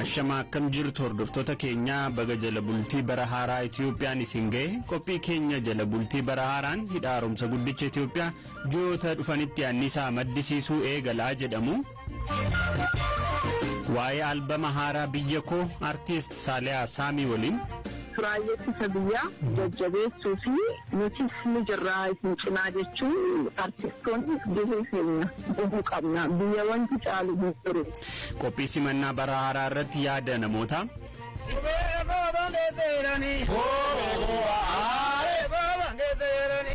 Ashama akkam jirtu hordoftoota keenyaa baga jala bultii bara haaraa Itiyoophiyaan isin ga'e qophii keenya jala bultii bara haaraan hidha haaromsa guddicha Itiyoophiyaa ji'oota dhufanitti annisaa maddisiisuu eegalaa jedhamu Waa'ee albama haaraa Biyya Koo Artiist Saaliyaa Saamii waliin. Raayyee Ittisa Biyyaa jajjabeessuu fi nutis ni jirra isin cinaa jechuun artistoonni gahee keenya bahuu qabna. Biyya wanti caalu hin jiru. Qophii simannaa bara haaraa irratti yaada namootaa.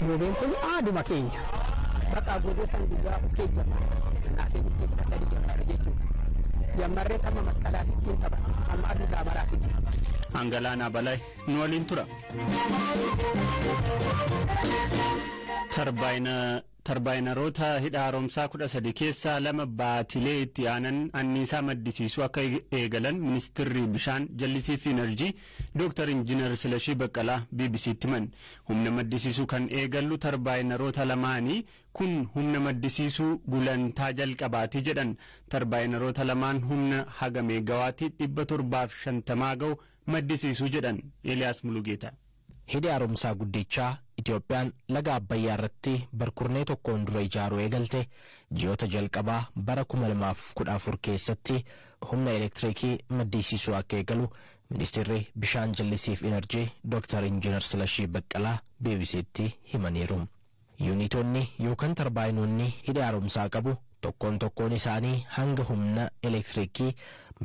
Goobeen kun aaduma keenya. Bakka goobee san guyyaa kee jammarre. Naasee bultii kudha sadii jammarre jechuudha. Jammarree tamma masqalaa ittiin taphata. Amma aduu daamaraa fi jira. Angalaanaa Balay nu waliin tura. Tarbaayina Tarbaayinaroota Hidha Haaromsaa 13 keessaa lama baatilee itti aanan anniisaa maddisiisuu akka eegalan Ministirri Bishaan, Jallisii fi Inarjii Dooktar Injinar Silashii Baqqalaa BBC'tti himan. Humna maddisiisuu kan eegallu tarbaayinaroota lamaani. Kun humna maddisiisuu gulantaa jalqabaati jedhan. Tarbaayinaroota lamaan humna haga meeggawaatii 750 gahu maddisiisu jedhan. Eeliyaas Mulugeetaa. Hidhi Haaromsaa Guddichaa Itoophiyaan laga Abbayyaa irratti barkurnee tokkoon dura ijaaruu eegalte ji'oota jalqabaa bara 2014 keessatti humna elektirikii maddisiisuu akka eegalu Ministirri Bishaan Jallisii fi Inarjii Dooktar Injiinar Silashii Baqqalaa BBC'tti himaniiru. Yuunitonni yookan tarbaayinoonni hidhi haaromsaa qabu tokkoon tokkoon isaanii hanga humna elektiriikii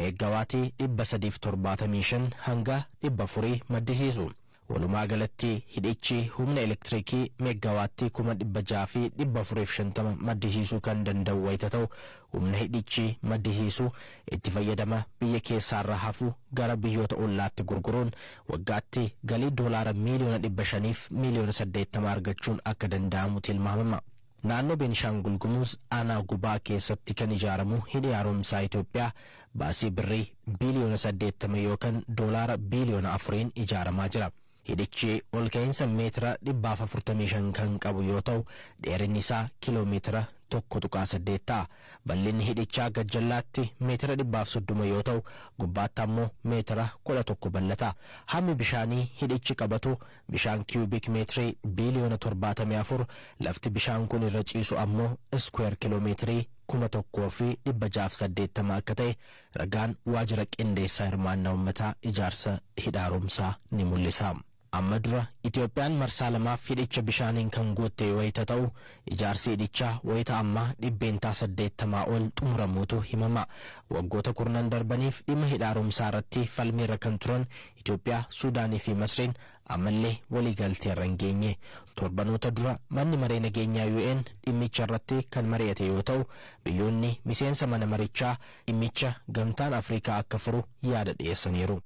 meeggawaatii 375 hanga 400 maddisiisu. Walumaa galatti hidhichi humna elektiriikii meeggawaattii 600,450 maddisiisuu kan danda'u wayita ta'u, Humna hidhichi maddisiisu itti fayyadama biyya keessaarra hafu gara biyyoota ollaatti gurguruun waggaatti galii doolaara miiliyoona 500 fi miiliyoona 80 argachuun akka danda'amu tilmaamama. Naannoo Beenishaangul Gumuz aanaa Gubaa keessatti kan ijaaramu Hidhi Haaromsaa Itoophiyaa baasii Birrii biiliyoona 80 yookan doolaara biiliyoona 4n ijaaramaa jira. Hidhichi olka'iinsa meetira 145 kan qabu yoo ta'u, dheerinni isaa kiiloo meetira 1.8 ta'a. Bal'inni hidhichaa gajjallaatti meetira 130 yoo ta'u, gubbaatti ammoo meetira 11 bal'ata. Hammi bishaanii hidhichi qabatu bishaan kiyuubik meetirii biiliyoona 74, lafti bishaan kun irra ciisu ammoo iskuweer kiiloo meetirii 1,680 akka ta'e Ragaan Waajira Qindeessaa Hirmaannaa Ummataa Ijaarsa Hidha Haaromsaa ni mul'isa. Amma dura Itoophiyaan marsaa lamaaf hidhicha bishaaniin kan guutte wayita ta'u, ijaarsi hidhichaa wayita ammaa dhibbeentaa saddeettamaa ol xumuramuutu himama. Waggoota kurnan darbaniif dhimma Hidha Haaromsaa irratti falmiirra kan turan Itoophiyaa, Suudaaniifi Masriin Ammallee waliigalteerra hin geenye. Torbanoota dura Manni Maree Nageenyaa UN dhimmicharratti kan mari'ate yoo ta'u, biyyoonni miseensa mana marichaa dhimmicha Gamtaan Afrikaa akka furu yaada dhiyeessaniiru.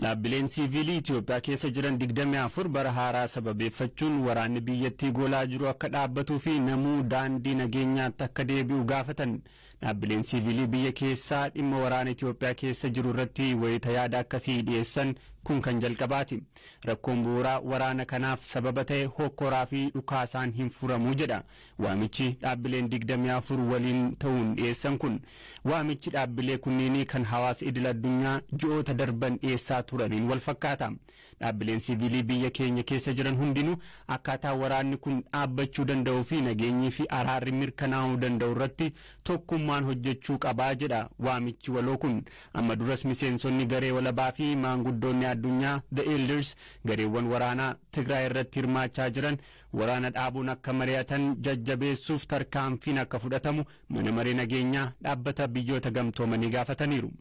Dhaabbileen siiviilii Itiyoophiyaa keessa jiran 24 bara haaraa sababeeffachuun waraanni biyyattii goolaa jiru akka dhaabbatuu fi namuu daandii nageenyaatti akka deebi'u gaafatan. Dhaabbileen siiviilii biyya keessaa dhimma waraana Itoophiyaa keessa jiru irratti wayita yaada akkasii dhiyeessan kun kan jalqabaati. Rakkoon bu'uuraa waraana kanaaf sababa ta'e hokkoraa fi dhukaasaan hin furamu jedha waamichi dhaabbileen 24 waliin ta'uun dhiyeessan kun. Waamichi dhaabbilee kunniinii kan hawaasa idil addunyaa ji'oota darban dhiyeessaa turaniin wal fakkaata. Dhaabbileen siviilii biyya keenya keessa jiran hundinuu akkaataa waraanni kun dhaabbachuu danda'uu fi nageenyii fi araarri mirkanaa'uu danda'u irratti tokkummaan hojjechuu qaba jedha waamichi waloo kun. Amma duras miseensonni garee walabaa fi maanguddoonni addunyaa, The Elders, gareewwan waraanaa Tigraay irratti hirmaachaa jiran waraana dhaabuun akka mari'atan jajjabeessuuf tarkaanfiin akka fudhatamu Mana Maree Nageenyaa Dhaabbata Biyyoota Gamtoomanii gaafataniiru.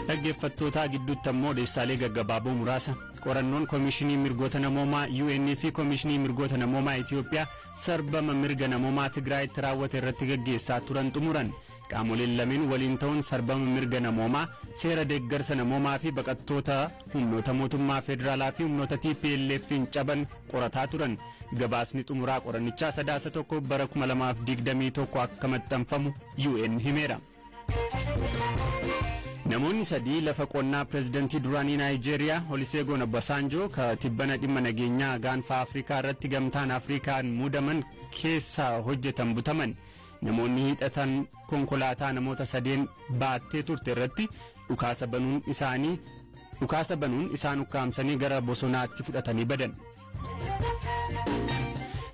Dhaggeeffattootaa gidduutti ammoo odeessaalee gaggabaaboo muraasa qorannoon Komishinii Mirgoota Namoomaa UN fi Komishinii Mirgoota Namoomaa Itiyoophiyaa sarbama mirga namoomaa Tigraayitti raawwate irratti gaggeessaa turan xumuran. Qaamoleen lameen waliin ta'uun sarbama mirga namoomaa, seera deeggarsa namoomaa fi baqattoota humnoota mootummaa federaalaa fi humnoota TPLF'n caban qorataa turan gabaasni xumuraa qorannichaa sadaasa tokko bara 2021 akka maxxanfamu UN himeera. Namoonni sadii lafa qonnaa pireezidantii duraanii Naayijeeriyaa Oliseegoon Obasaanjoo ka tibbana dhimma nageenyaa gaanfaa Afrikaa irratti gamtaan Afrikaan muudaman keessaa hojjetan butaman. Namoonni hidhatan konkolaataa namoota sadeen baattee turte irratti dhukaasa banuun isaanii dhukaasa banuun isaan ukkaamsanii gara bosonaatti fudhatanii badan.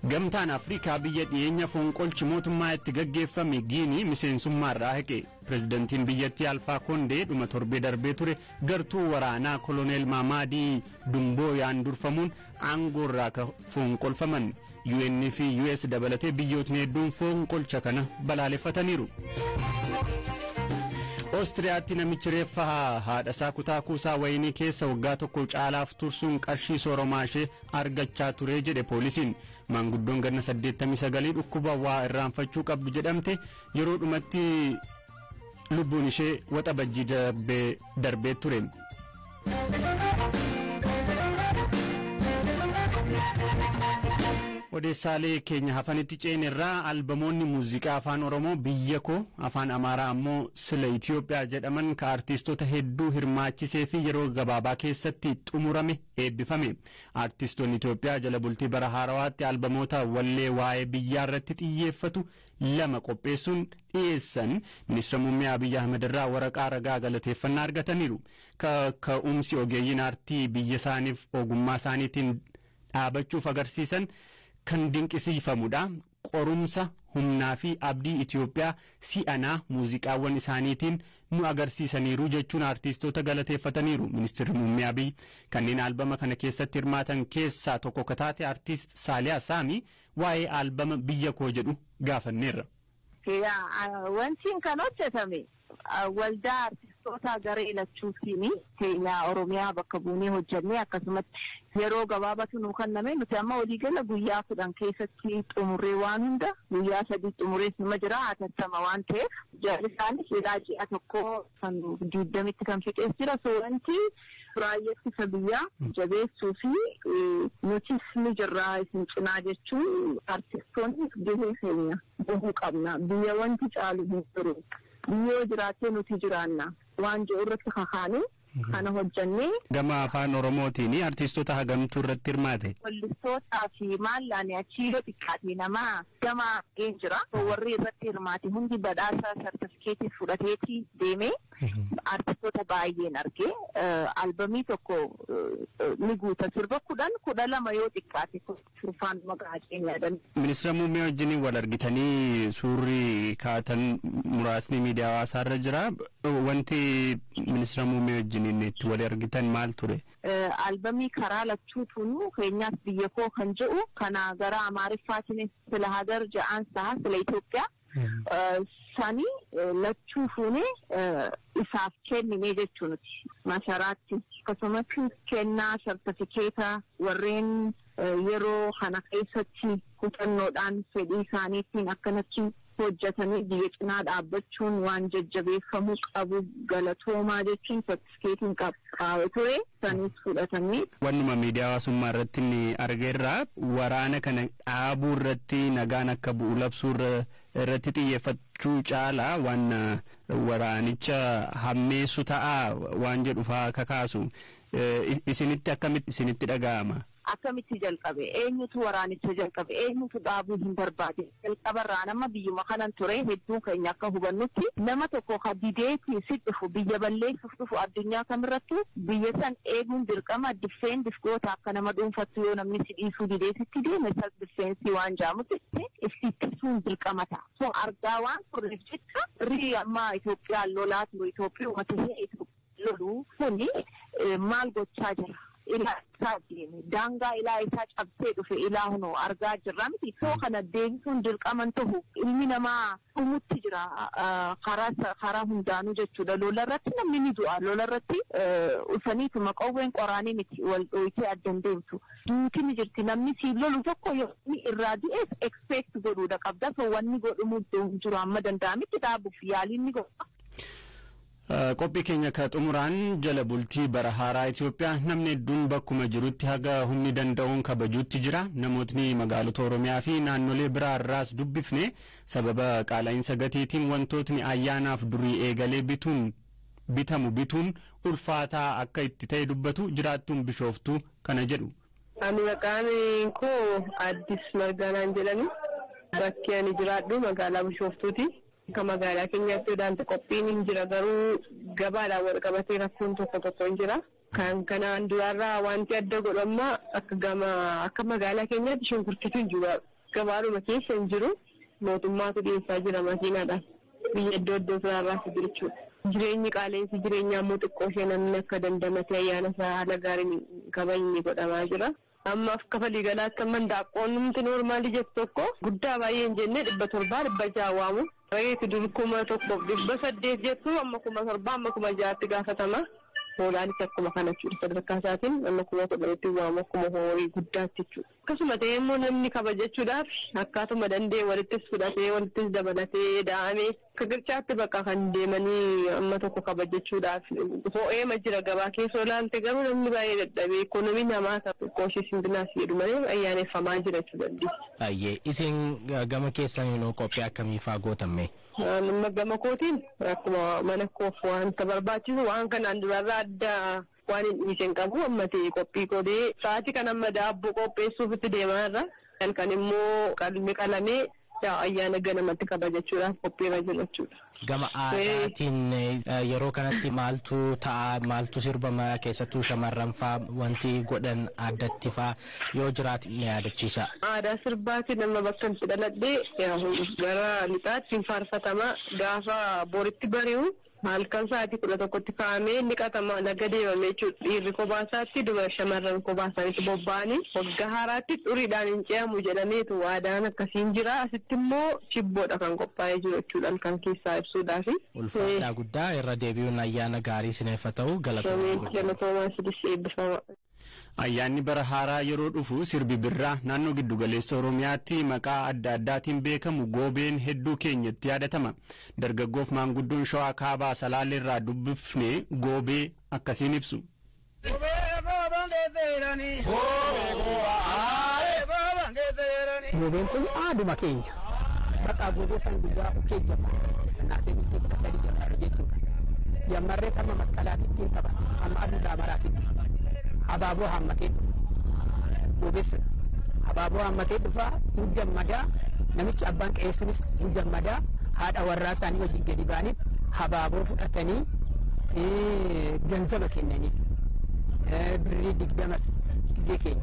Gamtaan Afrikaa biyya dhiyeenya fonqolchi mootummaa itti gaggeeffame Giinii miseensummaarraa haqe. Pireezidantiin biyyattii Alfaa Kondee dhuma torbee darbee ture gartuu waraanaa koloneel Maamaadii Dumbooyaan durfamuun aangoorraa ka foonqolfaman UN fi US dabalatee biyyootni hedduun foonqolcha kana balaaleffataniiru. Oostiriyaatti namichi reeffa haadhasaa kutaa kuusaa wayinii keessa waggaa tokko caalaaf tursuun qarshii sooromaa ishee argachaa ture jedhe poolisiin. Maanguddoon ganna 89 dhukkuba waa irraanfachuu qabdu jedhamte yeroo dhumatti Lubbuun ishee waxabajjii darbee darbee ture. Odeessaalee keenya hafanitti ceenerraa albamoonni muuziqaa afaan Oromoo biyya koo afaan Amaaraa ammoo sila Itoophiyaa jedhaman ka artiistota hedduu hirmaachisee fi yeroo gabaabaa keessatti xumurame eebbifame. Artiistoonni Itoophiyaa jala bultii bara haarawaatti albamoota wallee waa'ee biyyaa irratti xiyyeeffatu lama qopheessuun dhiyeessan Ministira Muummee Abiy Ahmed irraa waraqaa ragaa galateeffannaa argataniiru. Kaka'umsi ogeeyyiin aartii biyya isaaniif ogummaa isaaniitiin dhaabachuuf agarsiisan kan dinqisiifamudha. Qorumsa, humnaa fi abdii Itiyoophiyaa si'anaa muuziqaawwan isaaniitiin nu agarsiisaniiru jechuun aartiistoota galateeffataniiru Ministirri Muummee Abiy. Kanneen albama kana keessatti hirmaatan keessaa tokko ka taate aartiist Saaliyaa Saamii Waa'ee aalbama Biyya Koo jedhu gaafanneerra. Yaa wantiin kan hojjetame waldaa artistootaa garee lachuutiini. Keenya Oromiyaa bakka buunee hojjennee akkasumatti yeroo gabaabatu nuu kanname. Nuti amma walii gala guyyaa 10 keessatti xumurree waan hunda guyyaa 3 xumurees numa jira hatattama waan ta'eef. Jarri isaanis silaa ji'a tokkoo kan diiddamitti kan fixees jira. So wanti raayyaa ittisa biyyaa jabeessuu fi nutis ni jirraa isin cinaa jechuun artistoonni gahee keenya bahuu qabna. Biyya wanti caalu hin jiru. Biyyi yoo jiraattee nuti jiraanna waan jedhu irratti kakaanee kana hojjannee. Gama afaan Oromootiin artiistota hagamtu irratti hirmaate? Wallistootaa fi maallaan achii yoo xiqqaate nama. gama argeen jira. Warri irratti hirmaate hundi badhaasa sartifikeetii fudhateeti deeme. Artistoota baay'een arge. Albamii tokko ni guuta. Sirba kudhan kudha lama yoo xiqqaate kurfaan maqaa haceen yaadan. Ministira muummee wajjin wal argitanii suurri kaatan muraasni miidiyaa hawaasaa irra jira. Wanti ministira muummee wajjin itti wal argitan maal ture? Albamii karaa lachuutuunuu keenyaas biyyakoo kan je'u kana gara Amaariffaatinis sila Hagar ja'aan saha sila Itoophiya sani lachuu fuunee isaaf keenninee jechuu nuti. Masaraatti. Akkasumattis kennaa sartafikeeta warreen. Yeroo kana keessatti kutannoodhaan fedhii isaaniitiin akkanatti hojjatanii biyya cinaa dhaabbachuun waan jajjabeeffamuu qabu galatoomaa jechuun sartifikeetiin qabsaa'e ture sanis fudhatamee. Wannuma miidiyaa hawaasummaa irratti inni arge irraa waraana kana dhaabuu irratti nagaan akka bu'u labsuu irratti xiyyeeffachuu caalaa waan waraanicha hammeessu ta'aa waan jedhu fa'aa kakaasu. Isinitti akkamitti isinitti dhaga'ama? Akkamitti jalqabe? Eenyutu waraanicha jalqabe? Eenyutu dhaabuu hin barbaade? Jalqabarraa an amma biyyuma kanan ture hedduun keenya akka hubannutti nama tokko ka dideeti si dhufu biyya balleessuuf dhufu addunyaa kamirrattuu biyya san eeguun dirqama defend if goota akka nama dhuunfattuu yoo namni si dhiisuu didee sitti deeme self defense waan ja'amu jirti if ittisuun dirqama ta'a. So argaa waan turreef jecha rii amma Itoophiyaan lolaa turu Itoophiuma tahee Itoophiyaa. lolu kuni maal gochaa jira ilaa eessaa deeme daangaa ilaa eessaa cabsee dhufe ilaa huno argaa jirra miti soo kana deebisuun dirqama hin tahu ilmi namaa dhumutti jira karaa karaa hundaanuu jechuudha lola irratti namni ni du'a lola irratti usaniituma qawween qoraanii miti wal dhooytee adda hin deemtu duuti ni jirti namni siif lolu tokko yoo inni irraa du'eef expect godhuudha qabda soo wanni godhumuu hin jiru amma danda'amitti dhaabuuf yaaliin ni godha. Qophii keenya ka xumuraan jala bultii bara haaraa Itoophiyaa namni hedduun bakkuma jirutti haga humni danda'uun kabajuutti jira. Namootni magaalota Oromiyaa fi naannolee biraa irraas dubbifne sababa qaala'insa gatiitiin wantootni ayyaanaaf durii eegalee bituun bitamu bituun ulfaataa akka itti ta'e dubbatu jiraattuun Bishooftuu kana jedhu. Ani maqaan koo Addis Margaa naan jedhani. Bakki ani jiraadhu magaalaa Bishooftuuti. Akka magaalaa keenyaatti odaanti qophiin hin jira garuu gabaadhaan wal qabatee rakkoon tokko tokko hin jira. Kan kanaan duraarraa wanti adda godhu amma akka gama akka magaalaa keenyaatti shunkurtiitu hin jiru. Gabaadhuma keessa hin jiru. Mootummaatu dhiyeessaa jira makiinaadhaan. Biyya iddoo iddoo isaarraa fide jechuudha. Jireenyi qaala'insi jireenyaa immoo xiqqoo ishee namni akka dandamatee ayyaana isaa haala gaariin hin kabajne godhamaa jira. Amma akka falii galaatti amma hindaaqqoon numti noormaalii jettu tokko guddaa baay'ee hin jennee dhibba torbaa dhibba ja'a waamu. Reeti dur kuma tokkoof dhibba saddeet jettu amma kuma torbaa amma kuma ja'atti gaafatama. Hoolaanis akkuma kana jechuudha sadarkaa isaatiin amma kuma kudhanitti waamu akkuma horii guddaatti jechuudha. Akkasuma ta'ee immoo namni kabajachuudhaaf akkaatuma danda'e walittis fudhatee walittis dabalatee eda'ame. Kikirchaatti bakka kan deemanii amma tokko kabajachuudhaaf ho'eema jira gabaa keessa yoo ilaalte garuu namni baay'ee dadhabee ikoonomiin hamaata xiqqoo ishee simbinaas jedhu malee ayyaaneffamaa jira jechuu dandeessa. Hayyee isin gama keessaniin hoo qophii akkamii faa gootan mee? Anuma gama kootiin akkuma mana koof wanta barbaachisu waan kanaan duraarraa adda Waanin dhiise hin qabu. Ammati qophii goone. Sa'aatii kana amma daabboo qopheessuufitti deemaa jirra. Halkan immoo qalmi qalamee ayyaana ganamatti kabajachuudhaaf qophiirra jirra jechuudha. Gama aadaatiin yeroo kanatti maaltu ta'a? Maaltu sirbama? Keessattuu shamarranfaa wanti godhan addattifaa yoo jiraate na yaadachiisaa. Aadaa sirbaatiin amma bakkan itti dhaladhe gara lixaatti hin faarfatama. Gaafa boritti bari'u Halkan sa'aatii kudha tokkotti ka'amee ni qatama, laga deemame jechuudha. Dhiirri kophaa isaatti, dubara shamarran kophaa isaaniitti bobba'anii waggaa haaraatti xuriidhaan hin ce'amu jedhameetu aadaan akkasii hin jira. Asitti immoo chibboodha kan qophaa'ee jiru jechuudha halkan keessaa ibsuudhaaf. Ulfaadhaa guddaa irra deebi'uun ayyaana gaarii isiniif haa ta'u galatoomaa Ameen. guddaa. Galatoomaa isinis eebbifamaa. Ayyaanni bara haaraa yeroo dhufu sirbi birraa naannoo giddugaleessa Oromiyaatti maqaa adda addaatiin beekamu goobeen hedduu keenyatti yaadatama. Dargaggoof maanguddoon Shawaa Kaabaa Salaaleerraa dubbifne goobee akkasiin ibsu. Goobeen kun aaduma keenya. Baqaa goobee san guyyaa ukee jamaa naasee bultii kudha sadii jammarre jechuudha. Jammarree tamma masqalaatii ittiin taphata. Tamma aduu daamaraatitti. Habaaboo haammatee dhufa. Goobee sun. Habaaboo haammatee dhufa hin gammadaa. Namichi abbaan qe'ee sunis hin gammadaa. Haadha warraa isaanii wajjin gadi ba'aniif habaaboo fudhatanii ganzaba kennaniif. Birrii digdamas gizee keenya.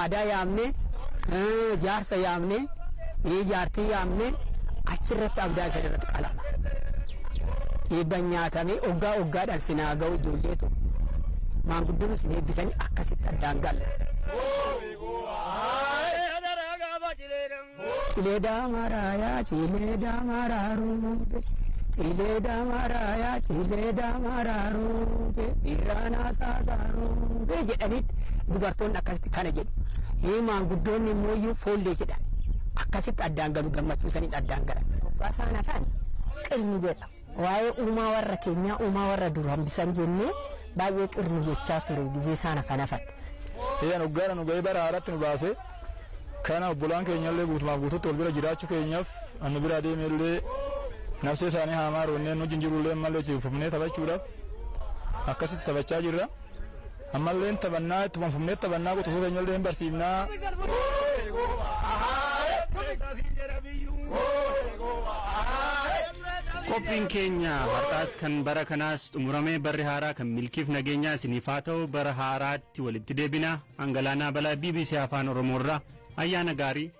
aadaa yaamnee, jaarsa yaamnee, jaartii yaamnee achirratti abdaan isin irratti qalama. Eebban nyaatamee oggaa oggaadhaan sin haa ga'u ijoollee too. Maanguddoon isin eebbisanii akkasitti addaan galla. Cilee daamaaraa yaa cilee daamaaraa ruube. Cilee daamaaraa yaa cilee daamaaraa ruube. Irraa naasaasaa ruube jedhaniitti dubartoonni akkasitti kana jedhu. Ee maanguddoonni immoo iyyuu foollee jedhan. Akkasitti addaan galu gammachuu saniin addaan galan. Hoggaa isaan hafan qirni jedhama. Waa'ee uumaa warra keenyaa uumaa warra dur hambisan jennee baay'ee qir nu gochaa ture gizee isaan hafan hafan. Eeyyeen hoggaadha nu ga'ee bara haaraatti nu baase. Kana obbolaan keenyallee guutumaaf guututti wal bira jiraachuu keenyaaf an nu biraa deemeellee nabsee isaanii haa maaru jennee nu wajjin jirullee ammallee itti fufnee taphachuudhaaf akkasitti taphachaa jirra. Ammalleen taphannaa ittuma fufnee taphannaa quxisuu keenyallee hin barsiifnaa. Qophiin keenya har'aas kan bara kanaas xumuramee barri haaraa kan milkiif nageenyaa isiniif haa ta'u bara haaraatti walitti deebina. An Galaanaa Balaa bbc Afaan Oromoorraa ayyaana gaarii.